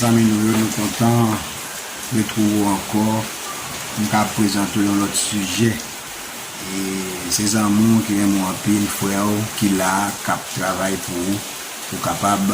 Zanmi nou yo nou kontan retrouve ou ankò poun ka prezante w yon lòt sijè e se zanmi w ki renmen w anpil frè w ki la kap travay pou ou pou kapab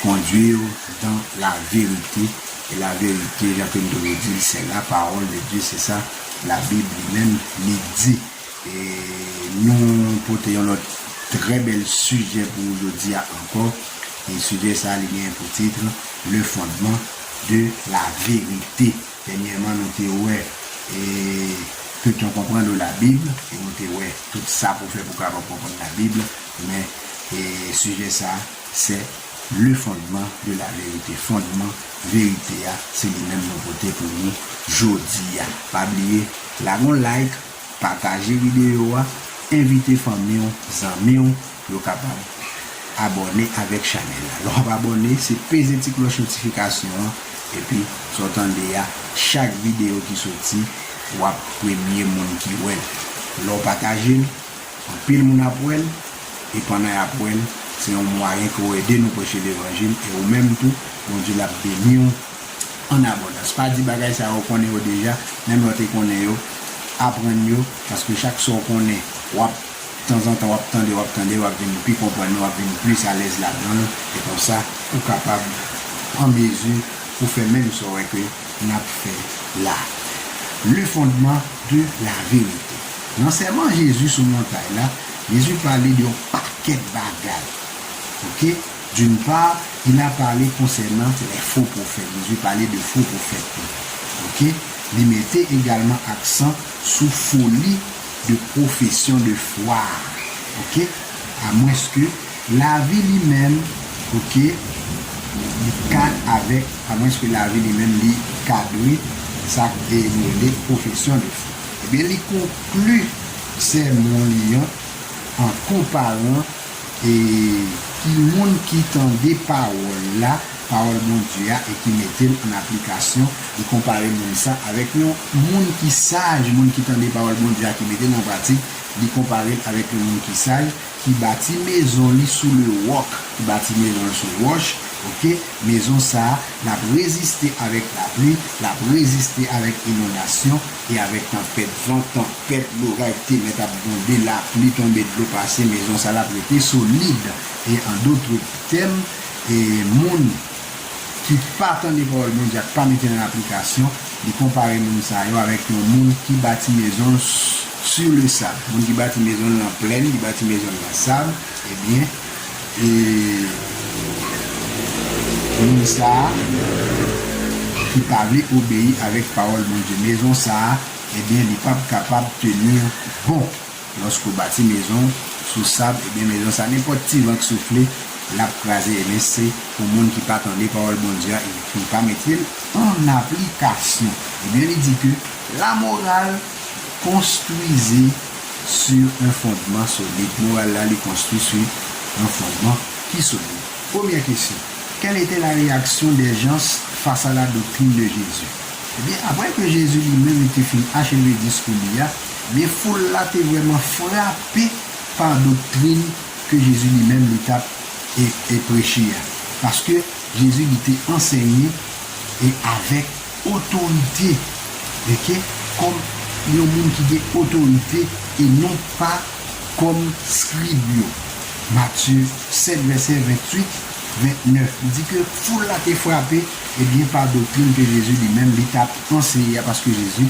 kondwi w dan la verite e la verite jan ke m toujou di l se la pawòl de Dye se sa la bib li menm li di. E nou pote yon lòt trè bèl sijè pou ou jodi a ankò. E sijè sa a li genyen pou titr, Le fondement de la vérité. Dènyèman nou te wè e tout yon konprann ou la Bible e nou te wè tout sa pou fè pou kapab konprann la Bible men e sijè sa a se. Le fondement de la vérité Fondman verite a se li menm nou pote pou nou jodi a. Pa bliye lage yon like, pataje videyo a, envite fanmi w, zanmi w pou yo kapab abòne avèk chanèl la. Lè w ap abòne, se peze ti klòch notifikasyon an epi sa w tande a, chak videyo ki soti w ap premye moun ki wè l. Lè w pataje l. Anpil moun ap wè l, e pandan y ap wè l, se yon mwayen ke w ede nou preche levanjil, e ou menm tou, Bondye l ap beni w an abondans. Pa di bagay sa yo, ou konnen yo deja, menm lè w te konnen yo, aprann yo, paske chak sa w konnen, w ap, tanzantan w ap tande, w ap tande, w ap vin pi konprann li, w ap vin plis alèz ladan l, e konsa, ou kapab an mezi pou fè menm sa w wè ke. n ap fè la, Le fondement de la vérité. Nan Sèman Jezi sou montay la, Jezi pale de yon pakèt bagay. Ok, d'une part, il a parlé concernant les faux prophètes, Jezi pale de fo pwofèt tou. Ok, li mete egalman aksan sou foli de profession de foi a. Ok, a mwens ke. Lavi li menm ok li ka avèk amwenske lavi li menm li ka dwe sa k e nou rele pwofesyon de fwa. Ebyen li konkli sèmon li an an konparan e ki moun ki tande pawòl la, pawòl Bondye a e ki mete l ann aplikasyon, li konpare moun sa avèk yon moun ki saj, moun ki tande pawòl Bondye a ki mete l an pratik, li konpare l avèk yon moun ki saj, Ki bati mezon li sou le roc, ki bati mezon l sou wòch, ok, mezon sa a, l ap reziste avèk lapli, l ap reziste avèk inondasyon e avèk tanpèt van, tanpèt loray, temèt ap gwonde, lapli tonbe, dlo pase, mezon sa l ap rete solid. E an dotre tèm, e moun. ki pa tande pawòl Bondye ak pa mete l an aplikasyon, li konpare moun sa yo avèk yon moun ki bati mezon l sur le sable. Moun ki bati mezon l nan plèn, li bati mezon l nan sab, ebyen, e, moun sa a ki pa vle obeyi avèk pawòl Bondye, mezon sa a, ebyen, li p ap kapab tenir bon. Loske w bati mezon w sou sab ebyen mezon sa nenpòt ti van k soufle lap kraze ebyen se pou moun ki pa tande pawòl Bondye a epi pa mete l an aplikasyon ebyen li di ke la moral konstwize su un fondman solid moral la li konstwi su un fondman ki solid premyè kesyon quelle était la réaction des gens face à la doctrine de Jésus ebyen aprè ke Jésus li menm li te fin acheve diskou li a Men foul la te vrèman frape pa doktrin ke Jezi li menm li tap e preche a. Paske Jezi li te ansègne e avèk otorite ok kòm yon moun ki gen otorite e non pa kòm skrib yo. Matye 7 vèsè 28, 29 li di ke foul la te frape ebyen pa doktrin ke Jezi li menm li tap anseye a paske Jezi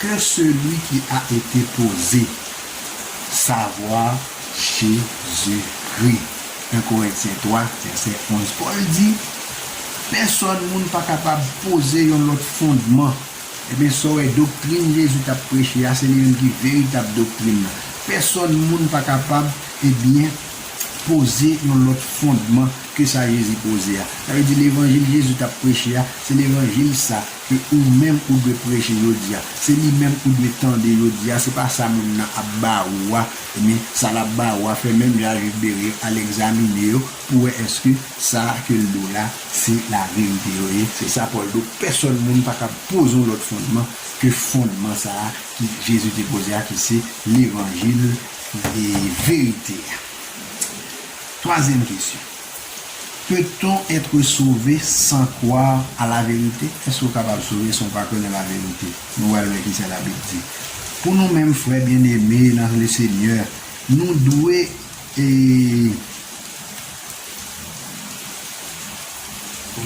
Que celui qui a été posé, savoir Jésus-Christ. 1 Corinthiens 3, verset 11 Pòl di, Pèsòn moun pa kapab poze yon lòt fondman. Ebyen, sa w wè, doktrin Jezi t ap preche a, se li menm ki veritab doktrin nan. Pèsòn moun pa kapab, ebyen, poze yon lòt fondman ke sa Jezi poze a. Sa vle di levanjil Jezi t ap preche a, se levanjil sa ke ou menm ou dwe preche jodi a, se li menm ou dwe tande jodi a, se pa sa moun nan ap ba ou a, ebyen sa lap ba ou a fè menm jan ak Jude Bereil al egzamine yo pou wè eske sa ke l do la se laverite yo ye, se sa Pòl do, pèsòn moun pa kab poze yon lòt fondman ke fondman sa a ki Jezi te poze a ki se levanjil verite a. Twazyèm kesyon. Peut-on etre sauve sans croire à la vérité? Èske ou kapab sove san w pa konnen laverite? Nou pral wè kisa Labib di. Pou nou menm frè byeneme nan Lesenyè, nou dwe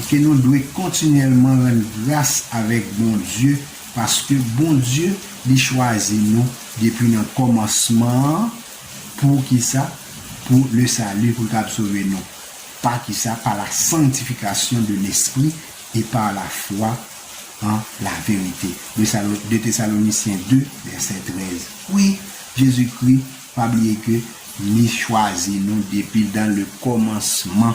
ke nou dwe kontinyèlman rann gras avèk Bondye paske Bondye li chwazi nou depi nan kòmansman an, Pou ki sa? Pou le salut, pou l kab sove nou. Pa ki sa? Par la sanctification de l'esprit et par la foi en la vérité. De sa, de Thessaloniciens 2, verset 13. Wi, Jezikri, pa bliye ke Li chwazi nou depi dan le kòmansman.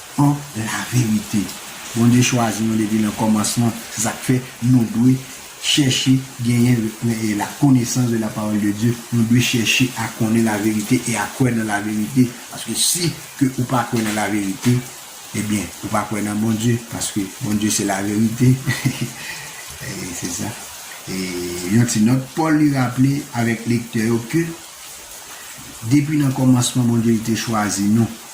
An laverite, Bondye chwazi nou depi nan kòmansman, se sa k fè nou dwe chèche genyen lakonesans de la parole de Dieu, nou dwe chèche a konnen laverite e a kwè nan laverite, paske si ke ou pa kwè nan laverite, ebyen, ou pa kwè nan Bondye, paske Bondye se laverite. Ee, se sa. E, yon ti nòt, Pòl li raple avèk lektè yo ke depi nan kòmansman Bondye li te chwazi nou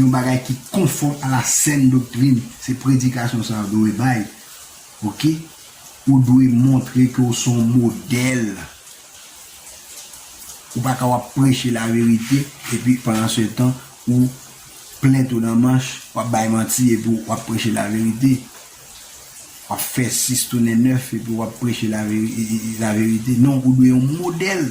Yon bagay ki konfòm a la sèn doktrin, se predikasyon sa yo dwe bay. Ok. Ou dwe montre ke w se yon modèl. Ou pa ka w ap preche laverite epi pandansetan ou plen twou nan manch, w ap bay manti epi w ap preche laverite. W ap fè sis tounen nèf epi w ap preche laverite. Non, ou dwe yon modèl.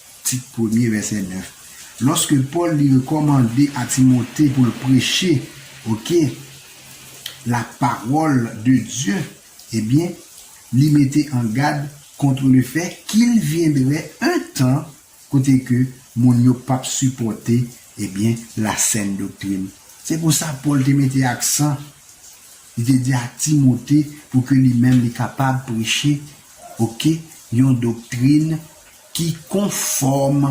Tit premye, vèsè 9. Lòske Pòl li rekòmande a Timote pou l preche, oke, lapawòl de Dye, ebyen, li mete an gad kontr lefè kil vyendrè un tan kote ke moun yo p ap sipòte, ebyen, lasèn doktrin. Se pou sa Pòl te mete aksan, li te di a Timote pou ke li menm li kapab preche, oke, yon doktrin, Ki konfòm,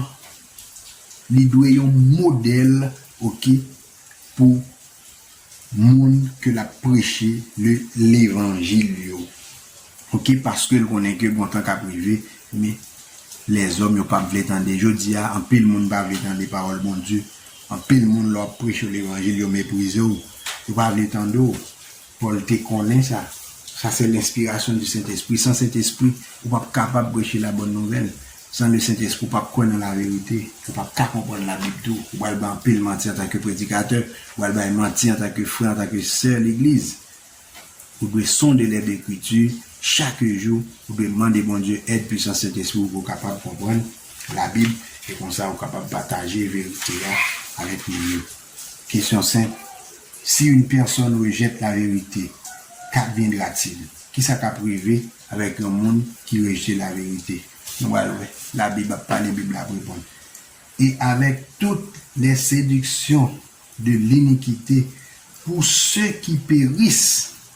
li dwe yon modèl ok pou moun ke lap preche le levanjil yo ok paskel konnen ke bon tan kap rive men lèzòm yo pap vle tande jodia anpil moun pa vle tande pawòl Bondye anpil moun lè wap preche yo levanjil yo meprizew yo pa vle tande w Pòl te konnen sa. Sa se lenspirasyon di Sentespri. San Sentespri, ou pap kapab preche la bòn nouvèl. San le Sentespri, ou pap kwè nan laverite. Ou pap ka konprann Labib tou. Ou pral bay anpil manti antanke predikatè. Ou pral bay manti antanke frè, antanke sè legliz. Ou dwe sonde lèdekritu chak jou. Ou dwe mande Bondye èd pwisans Sentespri pou ou kapab konprann Labib e konsa ou kapab pataje verite a avèk moun yo. Kesyon senp. Si youn pèsòn rejèt laverite, k'adviendra-t-il? Kisa k'ap rive avèk youn moun ki rejte laverite? Nou pral wè. Labib ap pale, Bib la ap reponn. E avèk tout lè sediksyon de linikite pou se ki peris.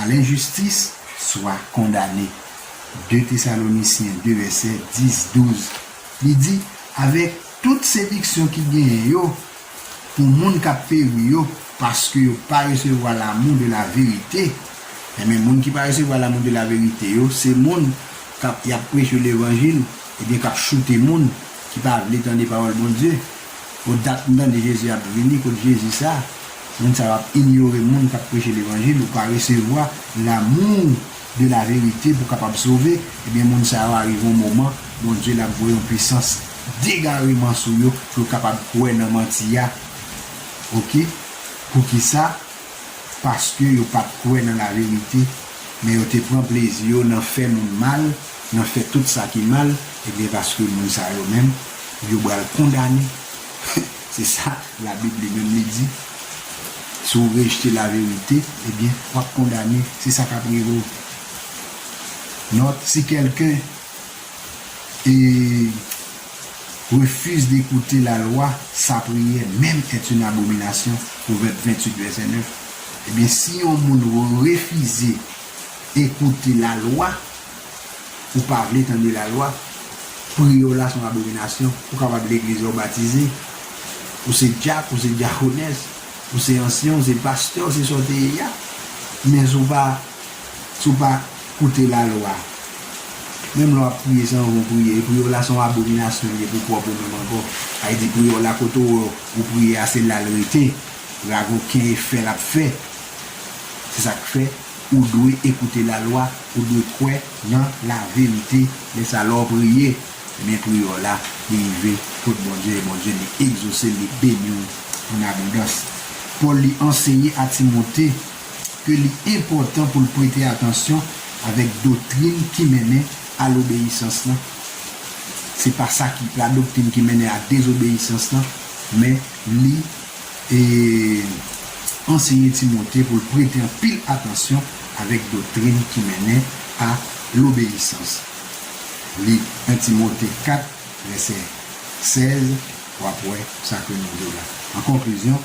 A lenjistis, swa kondane. 2 Tesalonisyen 2 vèsè 10, 12, li di, Avèk tout sediksyon ki genyen yo pou moun k'ap peri yo, paske yo pa resevwa lamou de laverite, enben moun ki pa resevwa lamou de laverite yo, se moun k'ap y'ap preche levanjil, ebyen k'ap choute moun ki pa vle tande pawòl Bondye. O dat m tande Jezi ap vini, kot Jezi sa? Moun sa yo ap inyore moun kap preche levanjil ou pa resevwa l'amour de la vérité pou kapab sove ebyen moun sa yo arive yon moman Bondye lap voye yon pwisans degareman sou yo pou yo kapab kwè nan manti a ok poukisa paske yo pat kwè nan la vérité men yo te pran plezi yo nan fè moun mal nan fè tout sa ki mal ebyen paske moun sa yo menm yo bal kondane. Se sa la bib li menm li di, si w rejte la verite, ebyen w ap kondane, se sa k ap rive w. Nòt, si kèlken e refuse d'écouter la loi, sa prière même est une abomination, Pwovèb 28 vèsè 9, ebyen si yon moun refize ekoute la lwa, ou pa vle tande la lwa, pri yo la son abominasyon, ou kapab leglize ou batize, ou se dyak, ou se dyakones, ou se ansyen, ou se pastè, ou se sa ou te ye ya, men si ou pa, si ou pa koute la lwa, menm lè wap priye san van ou priye, e pri yo la son abominasyon li ye pou pwòp ou menm ankò, sa vle di pri yo la kote ou wè ou priye ya se lal rete, ragoken e fè lap fè, se sak fè ou dwe ekoute la lwa. Ou dwe kwè nan la verite men sa lè w priye ebyen priyè w la li rive kot Bondye e Bondye li egzose l li beni w an abondans. Pòl li anseye a Timote ke li enpòtan pou l prete atansyon avèk doktrin ki mennen a lobeyisans lan. Se pa sa ki la doktrin ki mennen a dezobeyisans lan men li e anseye Timote pou l prete anpil atansyon avèk doktrin ki mennen a lobeyisans. Li 1 Timote 4, vèsè 16, w ap wè sa ke nou di la. An konklizyon,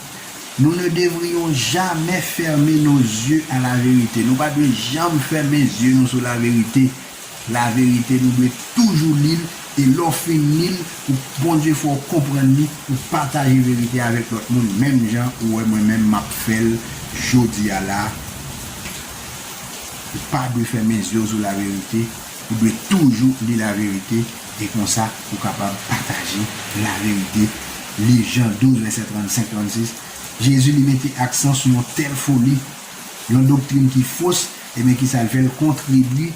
nou ne devrions jamais fermer nos yeux à la vérité, nou pa dwe janm fèmen zye nou sou laverite Laverite nou dwe toujou li l e lè w fin li l pou Bondye fè w konprann li pou pataje verite avèk lòt moun menm jan ou wè mwen menm map fè l jodi a la ou pa dwe fèmen zye w sou laverite ou dwe toujou li laverite e konsa ou kapab pataje laverite Liv Jan 12 vèsè 35, 36 Jezi li mete aksan sou yon tèl foli yon doktrin ki fos Ebyen kisa l fè l kontribwi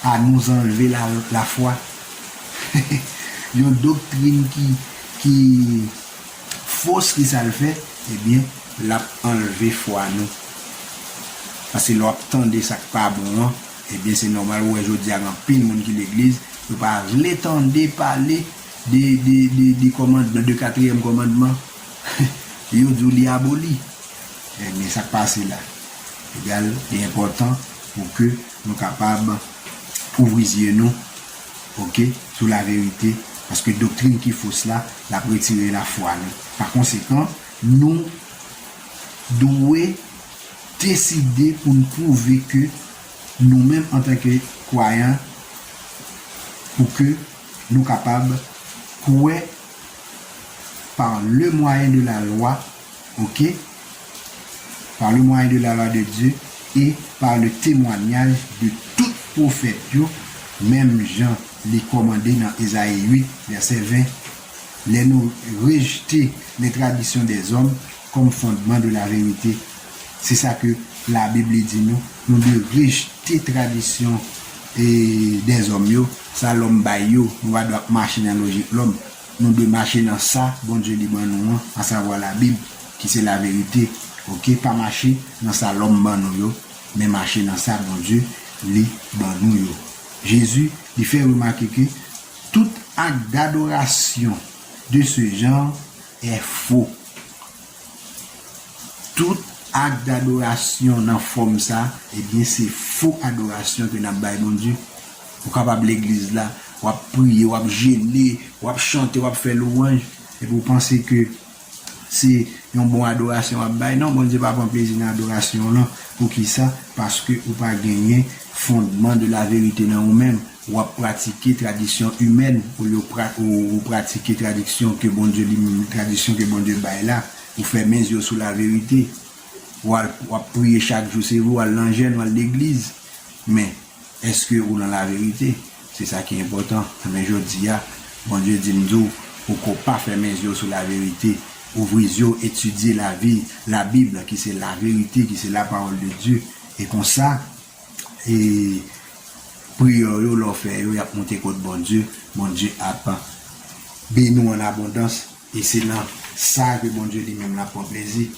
a nou zanlve la fwa yon doktrin ki ki fos kisa l fè ebyen lap anlve fwa nou paske lè wap tande sak pa bon an ebyen se nòmal ou wè jodi a gen anpil moun ki legliz yo pa vle tande pale de de de kòmandman de katriyèm kòmandman yo di w li aboli ebyen sak pase la. Egal, li enpòtan pou ke nou kapab ouvri zye nou, ok, sou laverite, paske doktrin ki fos la, l ap retire lafwa nou. Pakonsekan, nou dwe deside pou n pwouve ke nou menm antanke kwayan, pou ke nou kapab kwè, par le mwayen de la lwa, ok par le moyen de la loi de Dieu et par le temoignage de tout profèt yo menm jan li kòmande nan Esaïe 8 verset 20 lè nou rejete les traditions des hommes comme fondement de la vérité se sa ke la bible di nou nou dwe rejete tradisyon des hommes yo sa lòm bay yo nou pa dwe ap mache nan lojik lòm. Nou dwe mache nan sa Bondye li ban nou an, asavwa Labib, ki se laverite, oke, pa mache nan sa lòm ban nou yo, men mache nan sa Bondye li ban nou yo. Jezi, li fè remake ke tout ak dadorasyon de se jan è fo. Tout ak dadorasyon nan fòm sa, ebyen se fo adorasyon ke nap bay Bondye. Ou kapab legliz la, w ap priye, w ap jene, w ap chante, w ap fè lwanj, epi ou panse ke se yon bon adorasyon w ap bay. Non, Bondye pa pran plezi nan adorasyon w lan. Poukisa? Paske ou pa genyen fondman de la verite nan ou menm. W ap pratike tradisyon imèn olye ou pratike tradiksyon ke Bondye li menm, tradisyon ke Bondye bay la. Ou fèmen zye w sou la verite. W ap priye chak jou, se vre w al nan jèn, w al legliz, men Eske ou nan laverite? Se sa ki enpòtan. Enben, jodi a, Bondye di m di w, ou ko pa fèmen zye w sou laverite. Ouvri zye w, etidye lavi, Labib, ki se laverite, ki se lapawòl de Dye. E konsa, e, priyè w yo, lè w fè yo, y ap monte kot Bondye. Bondye ap beni w annabondans. E se nan sa ke Bondye li menm l ap pran plezi.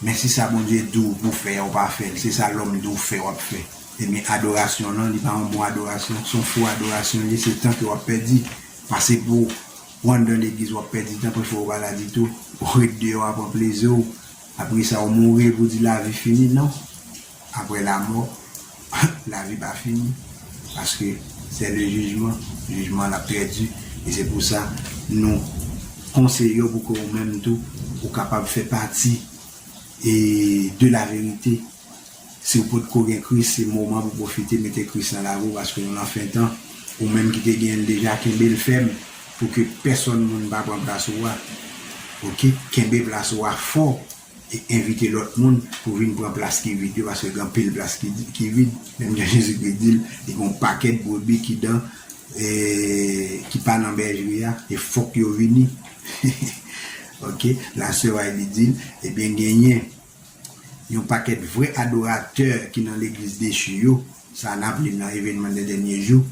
Men si sa Bondye diw pou fè a ou pa fèl se sa lòm diw fè wap fè ebyen adorasyon lan li pa yon bon adorasyon son fo adorasyon li ye se tan ke wap pèdi pase pouw ou anndan legliz wap pèdi tan prèfè ou pa la ditou ou ret deyò a pran pleziw apresa ou mouri epi ou di lavi fini non. Aprè lamò, lavi pa fini, paske sè le jijman, jijman an ap trè di, e se pou sa nou konseye w pou ke ou menm tou ou kapab fè pati e de la verite, si w potko gen Kris se moman pou pwofite mete Kris nan lavi w paske nou nan fen tan, ou menm ki te gen l deja kenbe l fèm pou ke pèsòn moun pa pran plas ou a, ok kenbe plas ou a fò. E envite lòt moun pou vin pran plas ki vid yo, paske gen anpil plas ki vid. Menm jan Jezikri di l, gen yon pakèt brebi ki dan, ki pa nan bèjri a, e fòk yo vini. Ok, lasè Wylie di l, Ebyen genyen yon pakèt vrè adoratè ki nan legliz dechi yo, sa n ap li nan Evenman dè Dènye Jou,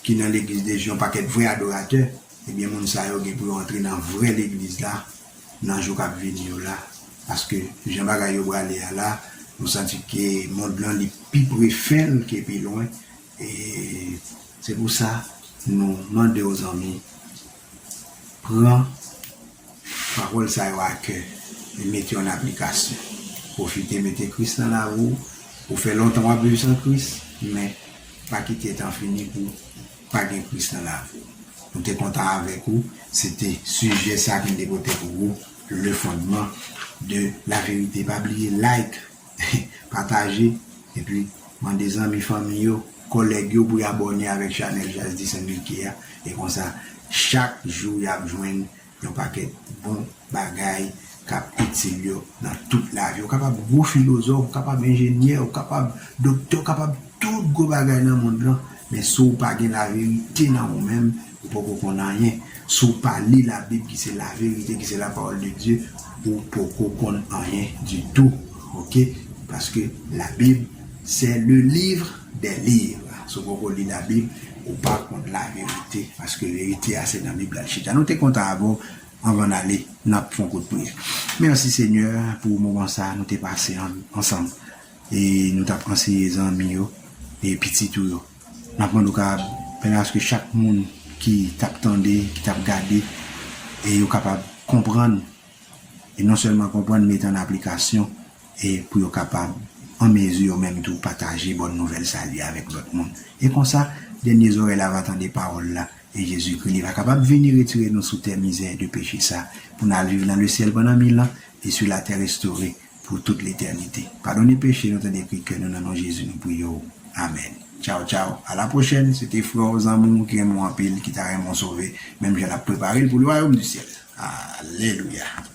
ki nan legliz dechi, yon pakèt vrè adoratè. Ebyen moun sa yo gen pou yo antre nan vrè legliz la, nan jou kap vini yo la paske jan bagay yo brale a la nou santi ke mond lan li pi pre fen l ke pi lwen e se pou sa nou mande w zanmi pran pawòl sa yo a kè e mete yo an aplikasyon pwofite mete Kris nan lavi w ou fè lontan wap viv san Kris men pa kite tan fini pou Pa gen Kris nan lavi w. Nou te kontan avèk ou, se te sijè sa ke m te pote pou ou, Le fondement de la vérité. Pa bliye like, pataje, epi mande zanmi, fanmi yo, kòlèg yo pou y abòne avèk chanèl Jazz Disanbilkye a, e konsa chak jou y ap jwenn Yon pakèt bon bagay k ap itil yo nan tout lavi. Ou kapab gwo filozòf, ou kapab enjenyè, ou kapab doktè, ou kapab tout gwo bagay nan mond lan, men si w pa gen laverite nan ou menm, ou poko konn anyen. Si w pa li Labib ki se laverite, ki se Lapawòl de Dye, ou poko konn anyen ditou. Oke, paske Labib, sè le liv. Des livres. Si w poko li labib, ou pa konn laverite. Paske verite a se nan bib la l chita. Nou te kontan avè w anvan n ale n ap fon kout priyè. Mèsi Senyè pou moman sa nou te pase ansanm e nou t ap anseye zanmi yo e pitit ou yo. N ap mande w kapab pèmèt aske chak moun ki t ap tande, ki t ap gade e yo kapab konprann e non sèlman konprann, mete an aplikasyon e pou yo kapab an mezi yo menm tou pataje bòn nouvèl sali a avèk lòt moun. E konsa, dènye zòrèy la va tande pawòl la e Jezikri, li va kapab vini retire nou sou tè mizè de peche sa pou n al viv nan lesyèl pandan mil an e sou latè restore. Pou tout letènite. Padone peche nou tande kri kè nou nan non Jezi nou priye w Amen Tchaw tchaw a la pwochèn se te frè w zanmi w ki renmen w anpil ki ta renmen w sove menm jan nap prepare l pou lwayom di syèl Alelouya.